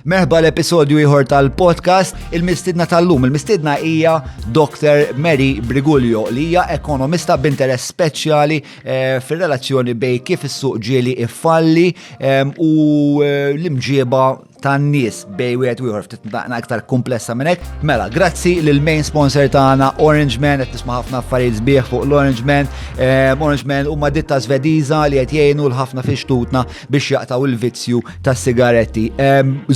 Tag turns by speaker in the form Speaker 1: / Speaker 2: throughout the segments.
Speaker 1: Merħba l-episodju ieħor tal-podcast Il-Mistidna tal-lum. Il-Mistidna hija Dr. Mary Brigulio li hija ekonomista b'interess speċjali eh, fir-relazzjoni bej kif is-suq ġieli iffalli eh, u eh, l-imġieba tan-nies bej wieħed u ieħor ftit naqna aktar komplessa minn hekk. Mela, grazzi lil main sponsor tagħna Orange Man qed nisma' ħafna affarijiet sbieħ fuq l-Orange Man. Orange Man huma ditta Svediża li qed jgħinu l-ħafna fix-xtutna biex jaqtaw il-vizzju ta' sigaretti.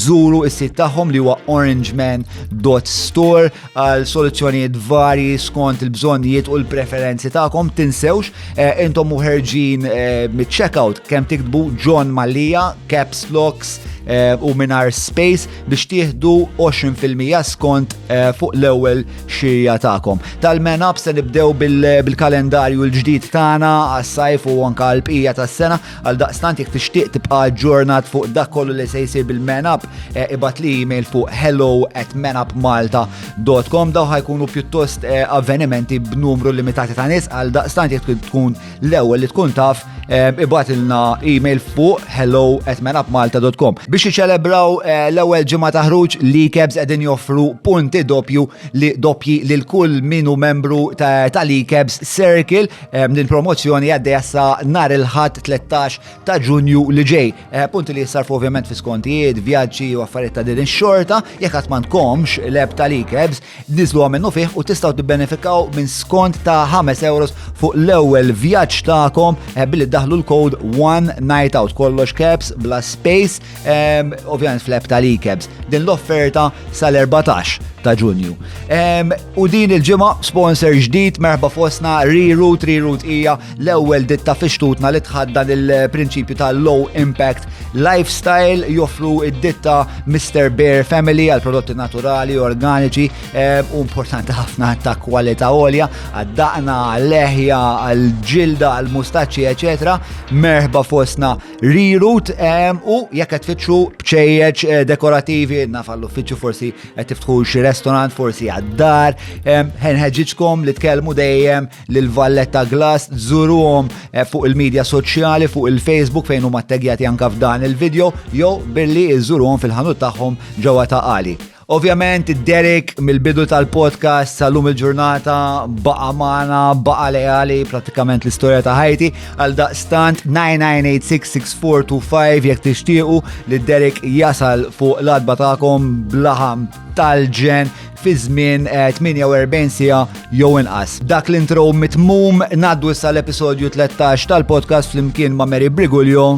Speaker 1: Zuru is-sit tagħhom li huwa orangeman.store għal soluzzjonijiet varji skont il-bżonnijiet u l-preferenzi tagħkom. Tinsewx eh, intom muħerġin eh, mit-checkout kemm tiktbu John Malija, Caps Locks eh, u Minar Space biex tieħdu 20% skont fuq l-ewwel xirja tagħkom. Tal-men up se nibdew bil-kalendarju l-ġdid tagħna għas-sajf u anka l-bqija tas-sena Għaldaqstant jekk tixtieq tibqa' ġurnat fuq dak kollu li se jsir bil-man up, eh, ibat li email fuq hello at manupmalta.com daw ħajkunu pjuttost eh, avvenimenti b'numru limitati ta' nies għaldaqstant jekk tkun l-ewwel li tkun taf eh, ibat ilna email fuq hello at manupmalta.com biex iċelebraw l-ewwel ġimgħa ta' ħruġ li kebs qegħdin joffru punti doppju li doppji lil kull minu membru tal-ikebs circle Din promozzjoni għaddej sa nar il-ħadd 13 ta' Ġunju li ġej. Punti li jissarfu ovvjament fi skontijiet, vjaġġi u affarijiet ta' din ix-xorta, jekk qatt m'għandkomx leb tal-ikebs, niżlu minnu fih u tistgħu tibbenefikaw minn skont ta' 5 euros fuq l-ewwel vjaġġ tagħkom billi daħlu l-kod One Night Out kollox caps bla space Ovvjament fl-app tal-ICABS, din l-offerta sal-14 ta' ġunju. U din il-ġimgħa sponsor ġdid merħba fosna Reroot, Reroot hija l-ewwel ditta fixtutna li tħaddan il-prinċipju ta' low impact lifestyle joffru id-ditta Mr. Bear Family għal prodotti naturali, organiċi u importanti ħafna ta' kwalità għolja, għad-daqna, għal-leħja, għal-ġilda, għal-mustaċċi, eċetera. Merħba fosna Rirut u jekk qed tfittxu bċejjeġ eh, dekorativi naf għall-uffiċċju forsi qed tiftħu xi restaurant forsi għad-dar, ħenħeġġiġkom li tkellmu dejjem lil Valletta Glass żuruhom eh, fuq il-medja soċjali fuq il-Facebook fejn huma ttegjati anke f'dan il-video jew billi żuruhom fil-ħanut tagħhom ġewwa ta' qali. Ovvjament, Derek mill-bidu tal-podcast sal-lum il-ġurnata baqa maħna, baqa leali pratikament l-istoria ta' ħajti għal daqstant 99866425 jek tixtiequ li Derek jasal fuq l-adba ta'kom blaħam tal-ġen fi żmien 48 eh, sija jew inqas. Dak l-intro mitmum naddu issa l-episodju 13 tal-podcast flimkien ma' Mary Brigulio.